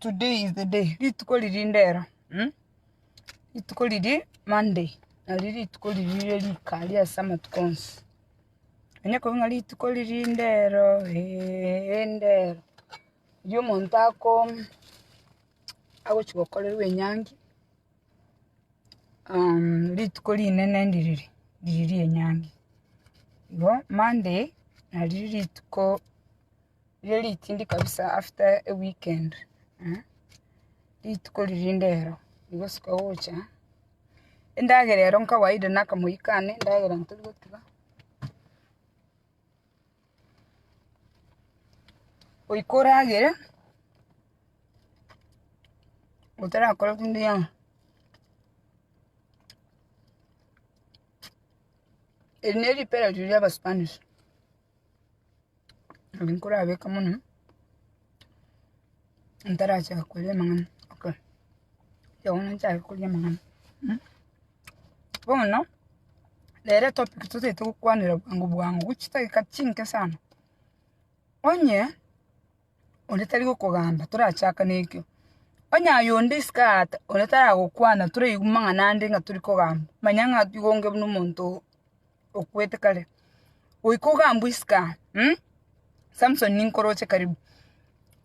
Today is the day, rituko riria ndero, mh? rituko riria Monday, nario rituko riria riria rika aria ase amatuko onsi. Onye korwa ng'a rituko riria ndero, eeh, ndero, riria omonto ako, agochia gokorerwa enyangi, rituko rinene ndi riria, riria ria enyangi. Igo Monday, nario rituko. Riria ritindi kabisa after eweekend, rituko riria rinde ero, rigosika gocha, endagera ero nkawaida nakamori kane, endagera ntori gotiga, goika oragere, otarakore buna eyanga, eri neripera riria ria abasubanishi. Nabo nkorabeka mono, ntarachaka koria amang'ana, oka tiga bono nchake koria amang'ana mh. Bono, nere etopic totaete gokwanera bwango bwango gochia chidageka chinke sana, onye. onde tari gokogamba torachakane ekio. Onye aye onde isiko aate onde taragokwana toraigwe mang'ana ande ng'a tori kogamba, manya ng'a tiga onge buna omonto oo okwete kare. Goika ogambwe isiko aa mh, Samson ninkoroche karibu.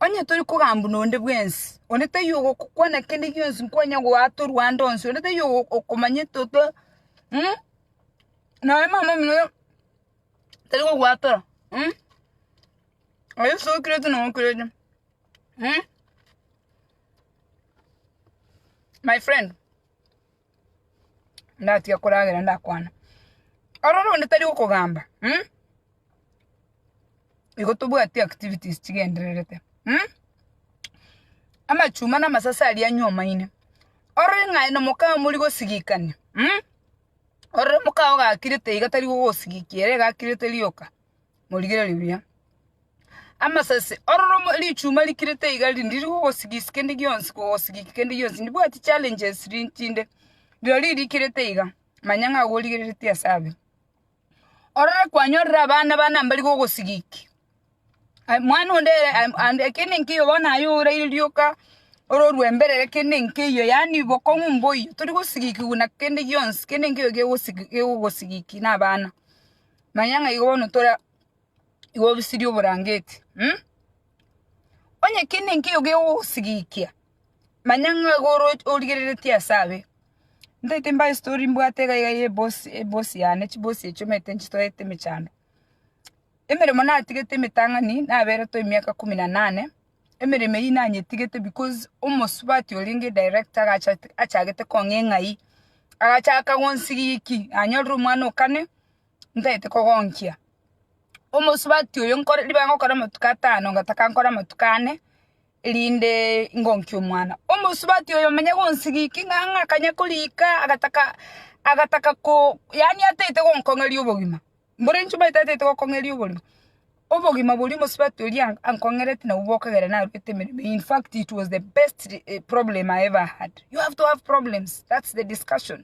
Onye tori kogambwa nonde bwensi, onde taiyo ogokokwana kende gionsi nkwanye goata orwande onsi, onde taiyo ogo- okomanyete oto mh, nonya mama omino tari gogoatora mh. Aye sokirete na okirete. Hmm? My friend. Ndatiga koragera ndakwana. Aroro onde tari okogamba. Hmm? Igo tobwati activities chigendererete. Hmm? Amachuma na amasase aria nyoma ine. Orore ng'aye na mokao mori gosigikania. Hmm? Orore mokao gakirete iga tari gogosigikera egakirete rioka. morigererie buya. Amasese, ororo richuma rikirete iga rinde ririgogosigisiki kende gionsi kogosigiki kende gionsi. Ndibwati challenges chinde, rirorio rikirete iga, manya ng'a igo origereretie ase abwo. Ororo kwanyorire abana bane mbari gogosigiki, aye mwana onde ere aye ande kende nkeiyo bono aye oraire rioka ororwe mbere ere kende nkeiyo yaani bokong'u mboiyo, tori gosigikiwa na kende gionsi, kende nkeiyo kegosigi kegogosigiki na abana. Manya ng'a igo bono tore igo obisirie oborangeti. Onye kende nkeiyo gegogosigikia, manya ng'a igo oro origereretie ase abe. Ntaete mbae story mbwate iga iga ye boss ye boss yane, chiboss echio omanyete nchitoete emechando. Emeremo natigete emetang'ani, naberetwe emiaka kumi na nane, emeremo eyio nanyetigete because omosubati orenge director agacha achagete kong'a eng'ai, agachaka gonsigiki, nanyorire omwana o kane. ntaete kogonkia. Omosubati oyo nkore ribaga ngokora amatuko atano ngataka nkore amatuko ane erinde ngonkie omwana. Omosubati oyo manya gonsigiki ng'ang'a akanya korika agataka agataka ko yaani ataete gonkong'eria obogima. Mbore inche omanyete ataete gokong'eria oborimo, obogima boria omosubati oria ankong'erete nabwo bokagera narwete emeremo in fact it was the best problem I ever had. You have to have problems, that's the discussion.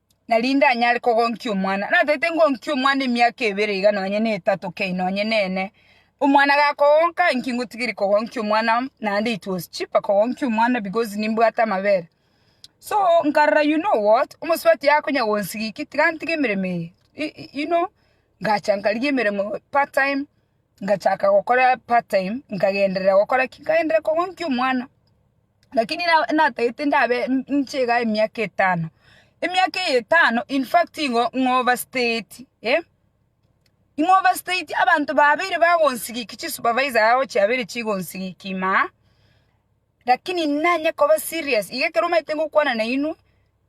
narinde anyare kogonkia omwana. Natete ngonkie omwana emiaka ebere iga nonye na etato kei nonye nene. Omwana gakogonka inki ngotigeria kogonkia omwana naende it was cheaper kogonkia omwana because nimbwate amabere. So nkarora you know what omosubati akonya gonsigia inki tiga ntige emeremo eye you know ngacha nkarigia emeremo part time ngachaka gokora part time nkagenderera gokora ki? Nkagenderera kogonkia omwana. Lakini na natagete ndabe inche iga emiaka etano, emiaka eye etano in fact nigo ng'overstayeti eh, ing'overstayeti abanto babeire bagonsigikia chisupervisor yao chiabeire chigonsigikia ime aa, lakini nanye koba serious iga ekero omanyete ngokwana nainwe,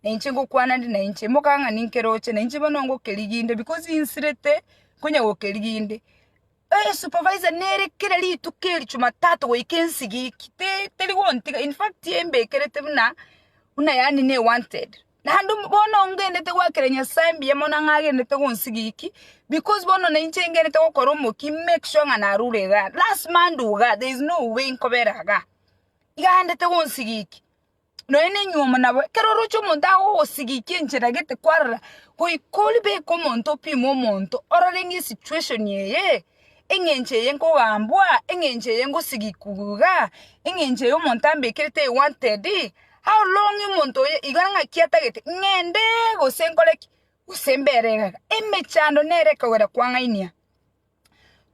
na inche ngokwana ande na inche, mokagera ng'a ninkeroche, na inche bono ngokerigia inde because insirete konya gokerigi inde. Esupervisor nere kera rituko eri Jumatatu goika ensigiki teri gontiga in fact embekerete buna buna yaani ne wanted naende bono ngenderete goakera Nyasaye mbuya mono ng'a agenderete gonsigiki because bono nainche ngenderete gokora omoki make sure ng'a narure igaa lasima ndue igaa there is no way nkobera igaa iga agenderete gonsigiki. Nonya nenyuomo nabo, ekero oroche omonto agogosigikia enchera gete kwarora, goika orie beka omonto opime omonto ororenge esituation eye, eng'encho eye nkogambwa, eng'encho eye ngosigikwa iga, eng'encho eye omonto ambekerete I wanted, how long omonto oyo iga ng'aki atagete ng'ende gose nkore ki, gose mbere iga iga, emechando nere ekogera kwang'ainia.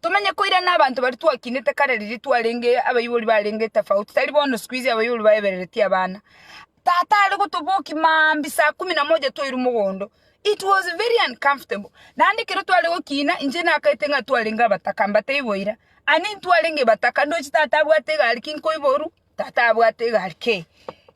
Tomenye koirana abanto baria twakinete kare riria twarenge abaibori barenge tofauti tari bono sikuizi abaibori baebereretie abana. Tata are gotobokia maambia saa kumi na moja twairwe mogondo. It was very uncomfortable. Naende ekero tware gokina inche nakaete ng'a twarenge abataka mbatebie boira. Ani ntwarenge bataka ndoche tata abwate egari ki nkoiboru? Tata abwate egari kei?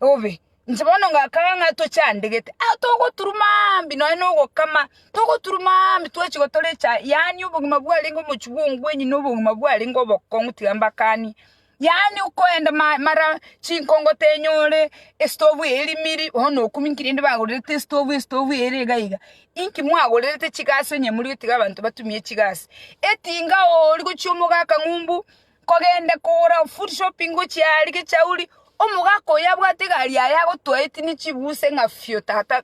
Obe. Inche bono ngakaba ng'a tochandegete, ao togoturuma mambia nonye na ogokama, togoturuma mambia twachia gotora echae, yaani obogima bwarenge omochie bwa ongwenyi na obogima bwarenge obokong'u tiga mbakanie, yaani okoenda ma- mara chinkongo tenyore, estovu eye erimiri, bono okumia nki rende bagorerete estovu, estovu eye ere iga iga, inki mwagorerete chigasi onye moria tiga abanto batumie chigasi, etinga oo rigochia omogaka ng'umbu, Nkogende kogora food shopping gochia aria gechauri omogaka oyo abwate egari yaye agotoa etini chibuse ng'a fio tata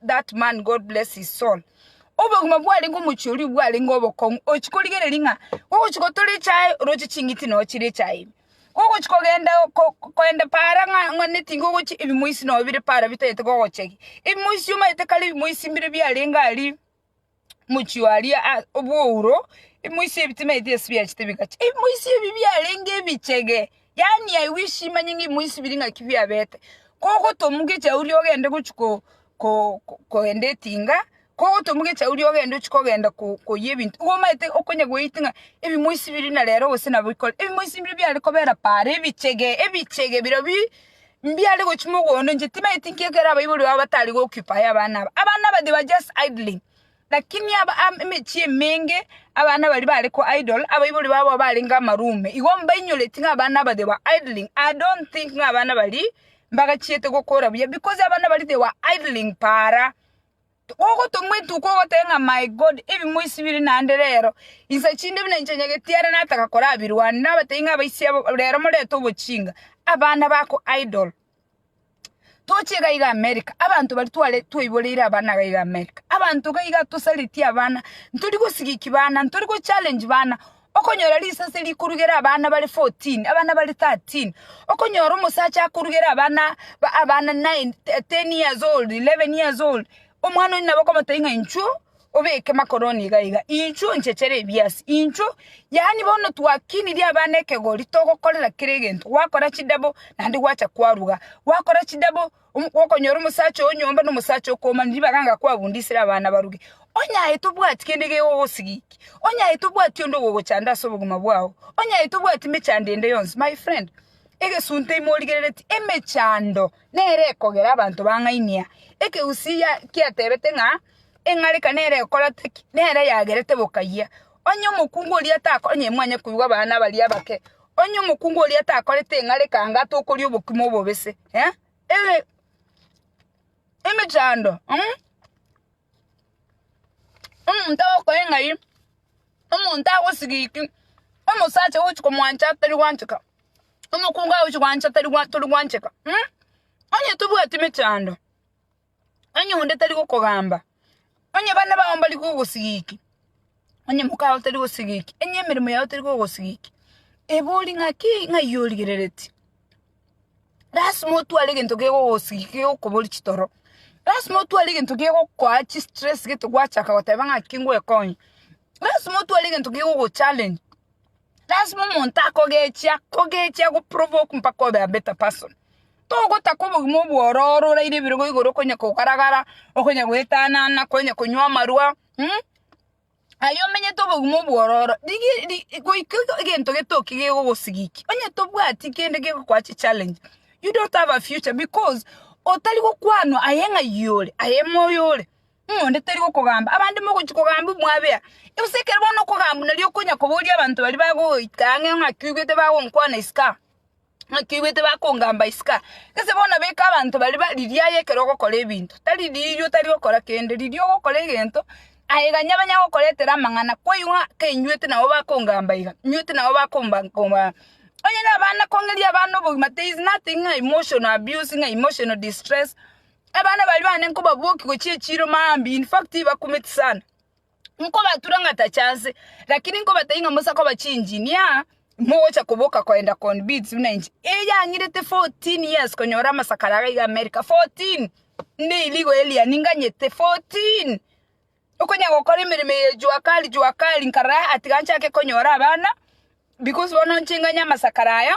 that man God bless his soul obogima bwarenge omochie oria bwarenge obokong'u ochi korigereria ng'a ogochi gotora echae oroche ching'iti nonya chire echae ime ogochi kogenda kogenda paara ng'a ng'a nigo ogochia ebimoisi nonya bire paara bitagete kogochegi ebimoisi omanyete kare ebimoisi mbire biarenge aria. mochio aria a- obwouro imoisia ebitima ebi ase biachete bigacha imoisia ebi biarenge ebichege yaani i wish manye ng'a imoisia biri ng'aki biabete kogotomuka echauri ria ogende gochia ko- ko- ko- kogenda etinga kogotomuka echauri ogende ochia kogenda ko- koyia ebinto igo omanyete okonya goeti ng'a ebimoisi biri na rero gose nabo bikore ebimoisi mbire biare kobera paaro ebichege ebichege birobio. Mbiare gochia mogondo, inche timanyeti inki ekero abaibori babo batari g'occupy abana aba. Abana aba they were just idling, lakini emechie emenge abana baria bare ko idle, abaibori babo barenge amaroom, igo mbainyoreti ng'a abana aba they were idling, I don't think ng'a abana baria mbagachiete gokora buya because abana baria they were idling paara. Ogotomwa etuko ogoteba ng'a my God ebimo isi biri naende rero, insa chinde buna inche nyageti are nataka korabirwania, nabatebi ng'a abaisi abo rero morete obochinga, abana bako idle. Toche iga iga America, abanto baria tware twaiboreire abana iga iga America, abanto iga iga tosareti abana, ntori gosigiki bana, ntori gochallenge bana. Okonyora risase rikorugera abana bare fourteen, abana bare thirteen, okonyora omosacha akorugera abana ba abana nine, te- ten years old, eleven years old, omwana oyio nabo okomotebia ng'a inchuo obeke makoroni iga iga, inchuo nchechere ebiasi, inchuo, yaani bono twakinirie abana ekegori togokorera kera egento, gwakora chidouble naende gwacha kwaruga, gwakora chidouble. Okonyora omosacha oo nyomba nomosacha okomani ribaga anga kwabundisire abana baruge, onye aye tobwati kende gegogosigikia, onye aye tobwati onde ogogochanda ase obogima bwao, onye aye tobwati mechando ende yonsi. My friend, egesunte ime origerereti emechando nere ekogera abanto bang'ainia. Ekegusii ya- kiatebete ng'a eng'areka nere ekorete ki? Nere yagerete bokayia. Onye omokungu oria atako onye mwanya koigwa abana baria abake, Onye omokungu oria takorete eng'areka anga tokoria obokima obobese, emechando, omonto agokoe ng'ai, omonto agosigiki, omosacha ogochi komwancha tari gwancheka, omokungu agochi gwancha tari gwa tori gwancheka, onye tobwati emechando. Onye onde tari gokogamba, onye bana bao mbari gogosigiki, onye moka oo tari gosigiki, onye emeremo yao teri gogosigiki, eba ori ng'aki? Ng'ai origerereti. Lasima otware egento kegogosigiki kegokobori chitoro, lasima otware egento kegokoa chistress gete gwachaka goteba ng'aki ngwekonye, lasima otware egento kegogochallenge. Lasima omonto akogechia kogechia go provoke mpaka obe a better person. Togotaka obogima obwororo oraire ebirogo igoro okonya kogaragara, okonya goetanana, okonya konywa amarwa mh aye omenyete obogima obwororo digi di goika iga egento getoki gegogosigiki onye tobwati kende gegokoa chichallenge you don't have a future because otari gokwanwa aye ng'ai ore aye moyo ore. Omonto tari gokogamba, abande mogochia kogamba omwabea. Gose ekero bono okogamba nari okonya koboria abanto baria bagoita ang'e ng'a ki oigwete bagonkwana isiko aa, ng'a ki oigwete bakongamba isiko aa. Gese bono beka abanto baria ba riria aye ekero ogokora ebinto, tari riria otari gokora kende, riria ogokora egento, aye iga nigo banya gokoretera amang'ana kwaigwa ng'a kainywete nabo bakongamba iga, inywete nabo bakomba komba. Onye na abana kong'eria abana obogima there is nothing ng'a emotional abuse ng'a emotional distress, Abana baria bane nkobabokia gochia echiiro mambia, in fact tibakumeti sana. Nkobatura ng'a tacha nse, lakini nkobatebia ng'a mosa koba chiengineer, mogocha koboka koenda koni bids buna inche. Eyang'irete 14 years konyora amasakara iga iga America, 14! Ndeirigo alien nganyete, 14! Okonya gokora emeremo eye jua kali jua kali nkarora atiga nchake konyora abana because bono inche nganye amasakara aya.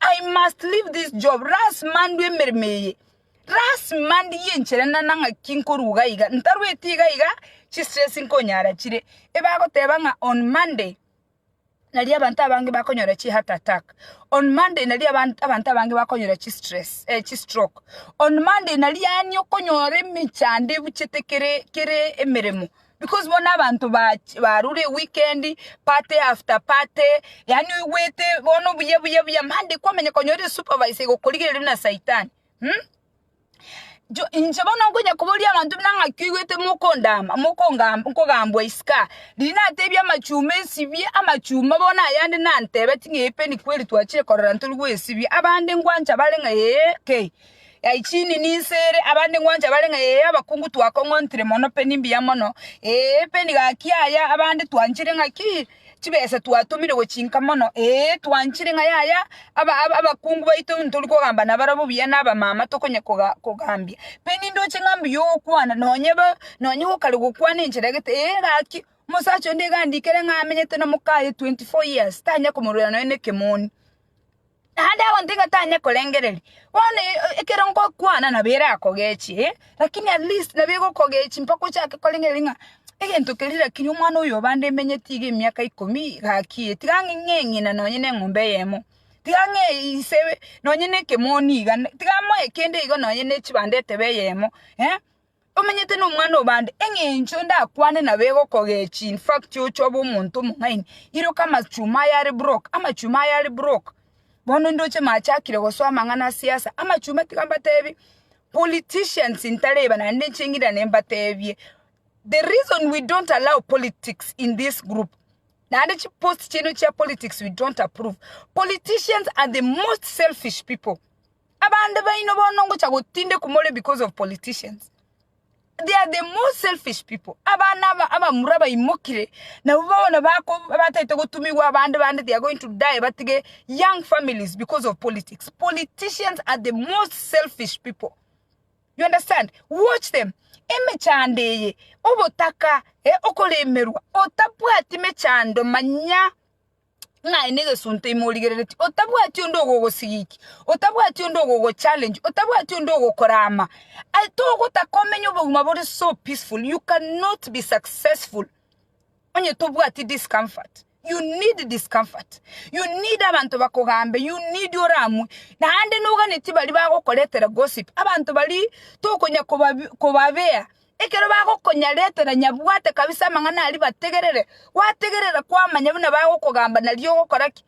I must leave this job, lasima ndue emeremo eye, lasima ndiye enchera ende ande ng'aki nkorwa iga iga, ntarueti iga iga chistress nkonyara chire. Ebagoteba ng'a on Monday nari abanto abange bakonyora chiheart attack, on Monday nari abant abanto abange bakonyora chistress chistroke, on Monday nari yaani okonyora emechando ebuchete kere kere emeremo. Because bono abanto bach- barure weekend, party after party, yaani oigwete bono buya buya buya Monday kwamanya konya ore supervisor igokorigereria buna saitani mm? Jo- inche bono nkonya koboria abanto buna ng'aki oigwete mokondama mokongam- nkogambwa isika riria natebia amachuma esibie amachuma bono ayande nantebeti ng'a ee penikweli twachire korora ntori goesibia abande ngwancha bare ng'a ee kei. Ai chini ninse ere, abande ng'wancha bare ng'a ee abakungu twakong'ontire mono pe nimbuya mono, ee pe nigaki aya abande twanchire ng'a ki chibesa twatumire gochinka mono, ee twanchire ng'a yaya aba aba abakungu baito ntori kogamba nabarabwo buya na abamama tokonya koga kogambia. Pe nindoche ng'a mbuya ogokwana nonye ba nonye gokare gokwana enchera egete ee gaki omosacha onde iga andikere ng'a amenyete nomokaye twenty four years tanya komorwera nonye nekemoni. Naende abanto igatanye korengereria, bono ekero ngokwana nabo erakogechie eh, lakini at least nabo egokogechia mpaka ochake korengereria ng'a egento keria lakini omwana oyo obande emenyeti iga emiaka ikomi gaki eh, tiga ng'e ng'e ng'ina nonye na eng'ombe eyemo, tiga ng'e ise nonye na ekemoni iga, tiga amoe kende igo nonye na echibando etebe eyemo eh. Tomenyete nomwana o bande, engencho ndakwane nabo egokogechi in fact oche obe omonto omong'aini, iroka amachuma aye are broke, amachuma aye are broke, bono ndoche machakire gosoa amang'ana a siasa, amachuma tiga mbatebi, politicians ntareba naende inche ng'irane mbatebie, the reason we don't allow politics in this group, naende chi post chiaino chia politics we don't approve, politicians are the most selfish people. Abande baino bono ngocha gotindekwa more because of politicians. They are the most selfish people. Abana aba abamura baimokire nabo bono bako batete gotumigwa abande bande they are going to die batige young families because of politics. Politicians are the most selfish people. You understand? Watch them. Emechando eye, obotaka, eh, okoremerwa, otabwati mechando, manya ng'a aye negesunte ime origereretie, otabwati onde ogogosigiki, otabwati onde ogogochallenge, otabwati onde ogokorama, ai togotaka omenye obogima bore so peaceful, you cannot be successful onye tobwati discomfort, you need discomfort, you need abanto bakogambe, you need oramwe, naende noganetie baria bagokoretera gossip, abanto baria tokonya kobabi kobabea Ekero bagokonyaretera nyabwate kabisa amang'ana aria bategerere, gwategerera kwamanya buna bagokogamba nario ogokora ki?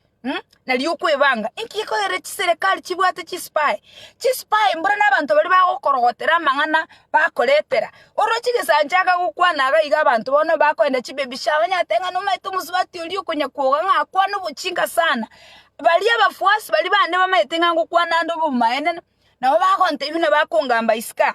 nario okwebanga. Inki gekoirera chiserekari chibwate chisipae? Chisipae mboro nabanto baria bagokorogotera amang'ana bakoretera. Oroche gesacha akagokwana iga iga abanto bono bakoenda chibaby shower onye ateba ng'a nomaete omosubati oria okonya kwoga ng'a akwane obochinka sana. Baria abafuasi baria bande bamaete ng'a ngokwana ande obomaene, nabo bagontebia buna bakongamba isiko aa.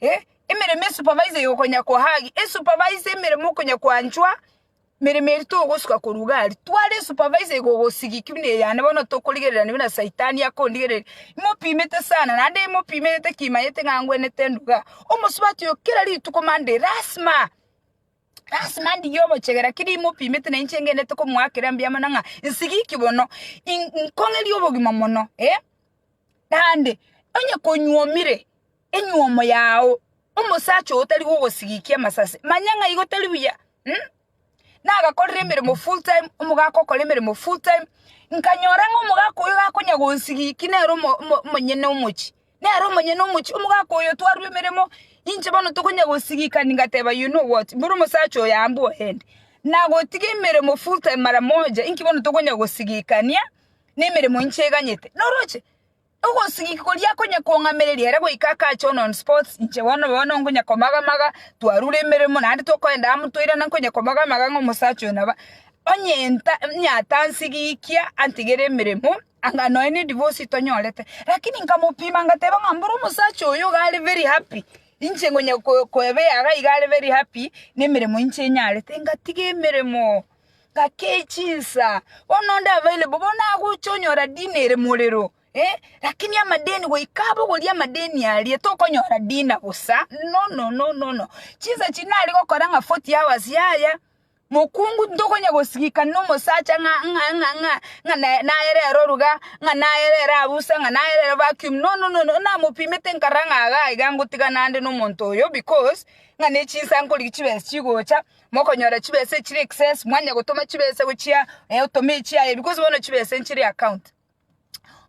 E, emeremo esupervise yokonyakwa hagi, esupervise emeremo okonyakwanchwa, meremo eri togosuka korwa gari tware esupervise igogosigiki buna eyane bono tokorigerera ni buna saitani akondigereria imopimete sana naende imopimerete kimanyete ng'a angwenete nduga omosubati oyo kera rituko monday lasima lasima ndigie omochega lakini imopimete na inche ngenderete komoakera mbuya mono ng'a nsigiki bono in- nkong'eria obogima mono naende onye konywa omire. Enyuomo yao, omosacha oo tari gogosigikia amasase, manya ng'a igo tari buya. Nagakorire emeremo full time, omogaka okore emeremo full time, nkanyora ng'a omogaka oyo gakonya gonsigikia nere omonyene omochie, nere omonyene omochie, omogaka oyo twarwa emeremo, inche bono tokonya gosigikani ngateba you know what, mboro omosacha oyo ambwe oende, nagotiga emeremo full time mara moja, inki bono tokonya gosigikania nemeremo inche eganyete, noroche? Ogosigiki koria konya kong'amereria ere goika akache Onon Sports, inche bono bono nkonya komaga-maga, twarure emeremo naende tokoenda amo toirana nkonya komaga-maga ng'a omosacha oyo naba onyenta onyatansigikia antigere emeremo anga nonya ne divorce tonyorete. Lakini nkamopima ngateba ng'a mboro omosacha oyo iga are very happy, inche nkonya ko koeba eyaga iga are very happy nemeremo inche nyarete ngatiga emeremo. Gake chinsa, bono onde abaire bo, bono agocha onyora dina ere morero, eh, lakini amadeni goika abogorie amadeni aria tokonyora dina bosa, nonononono, chinsa echi nare gokora ng'a forty hours yaya, mokungu ntokonya gosigika nomosacha ng'a ng'a ng'a ng'a ng'a naye nayere ere oruga, ng'a nayere ere abusa, ng'a nayere ere vacuum, nononono, namopimete nkarora ng'a iga iga ngotigana ande nomonto oyo because ng'a nechinsa nkorigia chibesa chigocha. Mokonyora chibesa echire excess mwanya gotoma chibesa gochia eh otome echi aye because bono chibesa nchire account.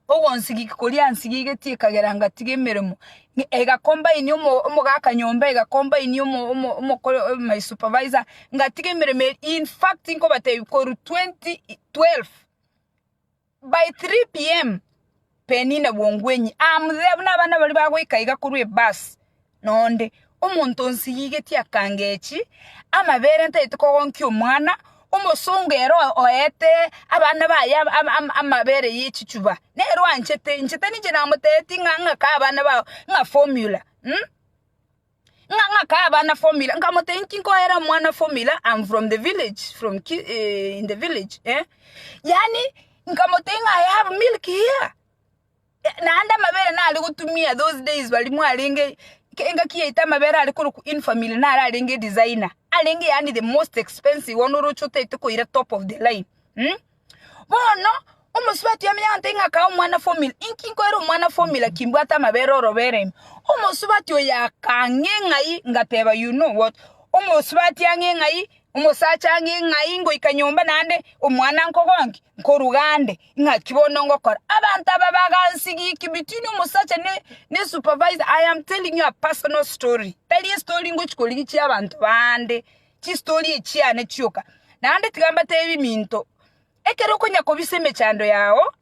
Ogonsigiki koria nsigigeti ekagera ngatiga emeremo ne ega combine omo omogaka nyomba ega combine omo omo omokoro my supervisor ngatiga emeremo eria infact nkobatebi korwa twenty twelve. By 3:00 pm Penina Bongwenyi aamutebia buna abana baria bagoika iga korwa ebus noonde, Omonto onsigigetie akangechi amabere ntaete kogonkia omwana, omosongo ere oete abana baye amabere yechichuba nere oanchete inche tari inche namoteeti ng'a ng'ake abana bao ng'a formula. Ng'a ng'akae abana formula, nkamotebia, Inki nkoera omwana formula, I'm from the village, from ki eh, in the village, eh? Yaani, nkamotebia ng'a I have milk here. Eh, Naende amabere nare gotumia those days bari mwarenge ke- engaki yaito amabere are korokwa in family nare arenge designer, arenge yaani the most expensive one oroche otaete koira top of the line. Mm? Bono, omosubati o meyanta ing'a akaa omwana formula, inki nkoera omwana formula kimbwate amabere orobere ime? Omosubati oyo akang'e ng'ai ngateba you know what, omosubati ang'e ng'ai, omosacha ang'e ng'ai ngoika nyomba naende omwana nkogoa nki? Nkoruga ande, ng'aki bono ngokora. Abanto aba bagansigiki between omosacha ne ne supervisor, I am telling you a personal story, tari estori ngochia korigia chiabanto bande. chistori chiane chioka. Naende tiga mbateebie minto, ekero okonya kobisa emechando yao,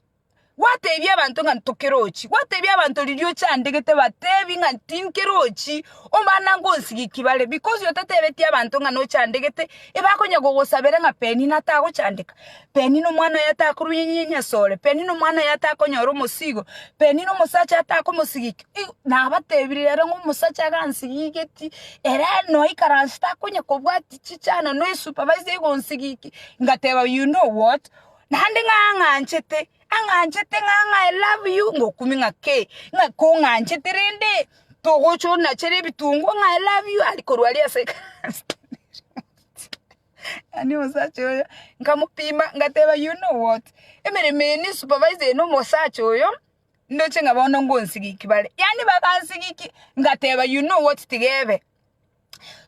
gwateebia abanto ng'a ntokerochi, gwateebia abanto riria ochandegete bateebie ng'a tinkerochi, omana ngonsigiki bare because otateebeti abanto ng'a nochandegete, ebakonya gogosabera ng'a Penina atagochandeka, Penina omwana oye atakorwa nyasore, Penina omwana oye atakonyora omosigo, Penina omosacha atakomosigiki, Igo nabatebirie rero ng'a omosacha iga ansigigetie, ere noikaranse takonya kobwatia chichano na esupervisor iga onsigikie, ngateba you know what, naende ng'a ang'anchete, ang'anchete ng'a ng'a I love you, ngokumia ng'a kei, ng'a kong'anchete rende togocha onachere ebitungu ng'a I love you aria korwa aria ase ekanisa yaani omosacha oyo nkamopima ngateba you know what, emeremo eye na esupervisor eye na omosacha oyo. Ndoche ng'a bono ngonsigiki bare. Yaani bagansigiki, ngateba you know what tiga ebe,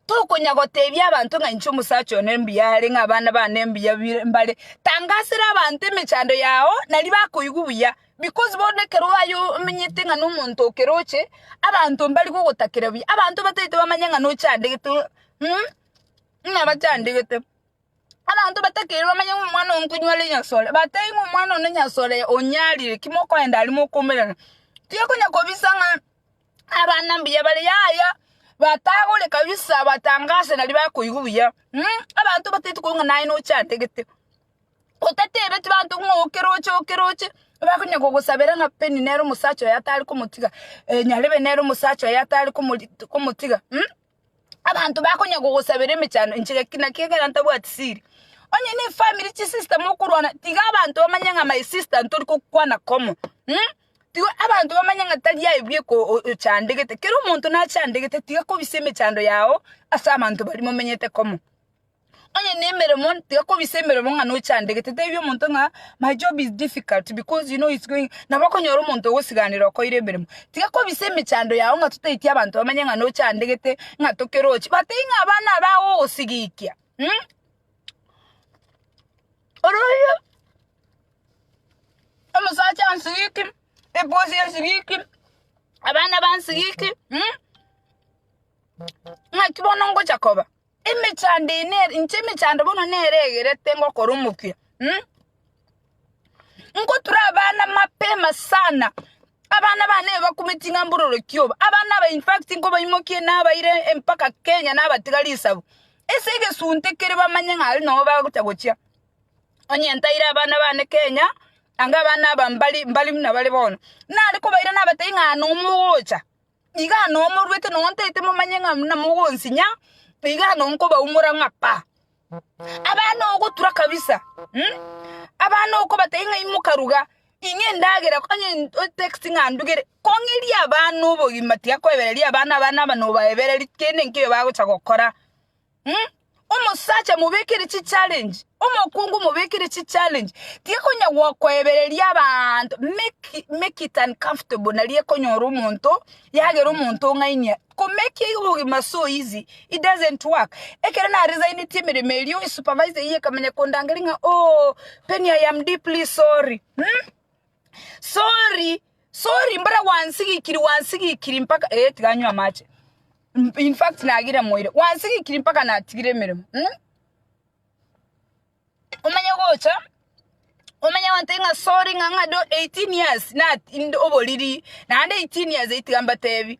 tokonya gotebia abanto ng'a inche omosacha one mbuya are ng'a abana bane mbuya bire mbare, tangasera abanto emechando yao naria bakoigwa buya because bono ekero aye omenyete ng'a nomonto okeroche, abanto mbari gogotakera buya, abanto bataete bamanye ng'a nochandegete ng'a bachandegete. Abanto batakeire bamanye ng'a omwana one konywa are nyasore, batebie ng'a omwana one nyasore onyarire, ki mokoenda aria mokomerana. Tiga konya kobisa ng'a abana mbuya bare yaya, batagore kabisa batangase nari bakoigwa buya abanto bataeti koigwa ng'a naye nochandegete. Otatebeti banto ng'a oke roche oke roche, bakonya kogosabera ng'a peni nere omosacha oyo atare komotiga, nyarebe nere omosacha oyo atare komori komotiga. abanto bakonya gogosabera emechando inche gaki naki ekero ntabwati siri onye ne efamiri chisister mokorwana tiga abanto bamanye ng'a my sister ntori kokwana komo tiga abanto bamanye ng'a tari aye bwe ko ochandegete kero omonto nachandegete tiga kobisa emechando yago ase abanto baria momenyete komo. Onye nemeremo tiga kobisa emeremo ng'a nochandegete tebi omonto ng'a my job is difficult because you know it's going nabo okonyora omonto ogosiganera okoire emeremo tiga kobisa emechando yago ng'a totaeti abanto bamanye ng'a nochandegete ng'a tokeroche but tei ng'a abana aba agogosigikia oroiyo omosacha ansigiki ebosi ensigiki abana bansigiki ng'aki bono ngocha koba. Emechando eye nere, inche emechando bono nere egerete ngokora omokia. Ngotura abana mapema sana, abana bane ebakume ching'ambo ororokio obo, abana aba infact nkobaimokie nabaire mpaka Kenya nabatiga risabu, ase egesunte kere bamanye ng'a aria nabo bagocha gochia. Onye ntaire abana bane Kenya, anga abana aba mbari mbari buna bare bono, nare kobaira nabatebi ng'a nomo ogocha, iga nomorwete nonye ntaete momanye ng'a buna mogonsinya iga nonkobaumora ng'a pa. Abana ogotura kabisa abana okobatebia ng'a imoka ruga ing'e endagera onye otext ng'a ndugere kong'erie abana obogima tiga koebereria abana abana aba nobaebereri kende nkeiyo bagocha gokora. Omosacha omobekire chichalenji, omokungu omobekire chichalenji, tikonyara gokoebereria abanto, make make it uncomfortable naria ekonyora omonto yagera omonto ong'ainia. Komake iga obogima so easy, it doesn't work. Ekero naresainetie emeremo erio, esupervisor eyio ekamanya kondangeria ng'a ooh Penny I am deeply sorry. sorry sorry mbore gwansigikiri gwansigikiri mpaka eh tiga nywe amache M- in fact nagire moire gwansigikiri mpaka natigire emeremo mm? omanye gocha omanye wante ng'a sorry ng'a ng'a do 18 years na inde oboriri naende 18 years itiga mbatebi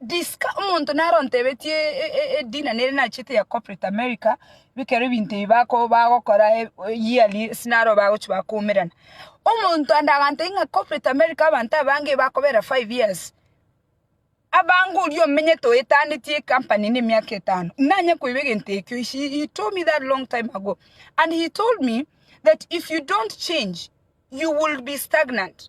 Disca omonto naro ontebetie edina nere nachete ya corporate America bikero ebinto ebi bako bagokora yearly ase naro bagochia bakoumerana. Omonto ande agantebia ng'a corporate America abanto abange bakobera five years, abange oria omenyete oetanetie ecompany na emiaka etano, nanye koiba egento ekio he told me that long time ago and he told me that if you don't change you will be stagnant.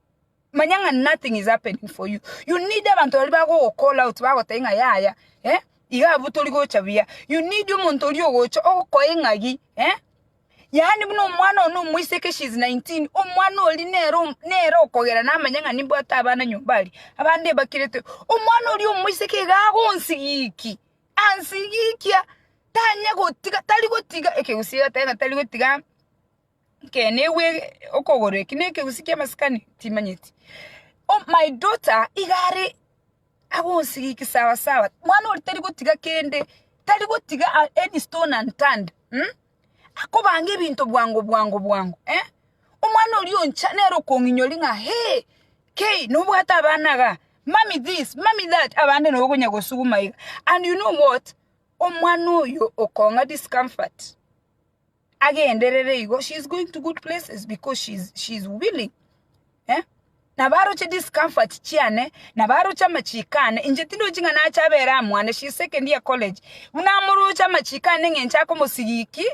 manya ng'a nothing is happening for you you need abanto baria bagogocall out bagotebia ng'a yaya eh iga abwo tori gocha buya you need omonto oria ogocha okoe eng'agi eh yaani buna omwana oyo na omoiseke she is 19 omwana oria nere om nere okogera namanya ng'a nimbwate abana nyomba aria abande mbakirete omwana oria omoiseke iga agonsigikia ansigikia tanye gotiga tari gotiga ekegusii egetebe ng'a tari gotiga. Inki negwe okogoro eki ne ekegusii kia masikani? Timanyeti. O my daughter iga are agonsigiki sawa sawa. Mwana oria tari gotiga kende, tari gotiga any stone unturned um akobanga ebinto bwango bwango bwango eh. Omwana oria oncha nere okong'inyori ng'a hee kei nobwate abana iga, mummy this, mummy that, abande nabo okonya gosuguma iga. And you know what? Omwana oyo okong'a discomfort. agenderere igo she is going to good places because she is, she is willing eh? nabaroche discomfort chiane nabaroche amachiko ane inche tindochi ng'a nache abere amwane she is second year college buna amoroche amachiko ane ng'enche akomosigiki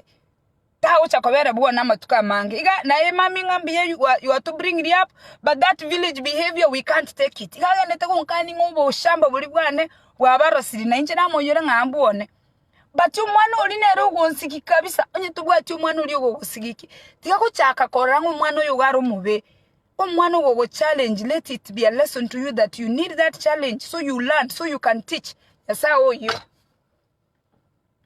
tagocha kobera bwana amatuko amange iga naye mami ng'a mbuya you are, you are to bring me up but that village behavior we can't take it iga agendete gonkania ng'a oboshamba boria bwane bwabarosiri na inche namoiyore ng'a ambwane But omwana oria nere ogonsigiki kabisa onye tobwati omwana oria ogogosigiki tiga gochaka korora ng'a omwana oyo iga are omobe, omwana ogogochallenge let it be a lesson to you that you need that challenge so you learn so you can teach. Nyasaye oyio.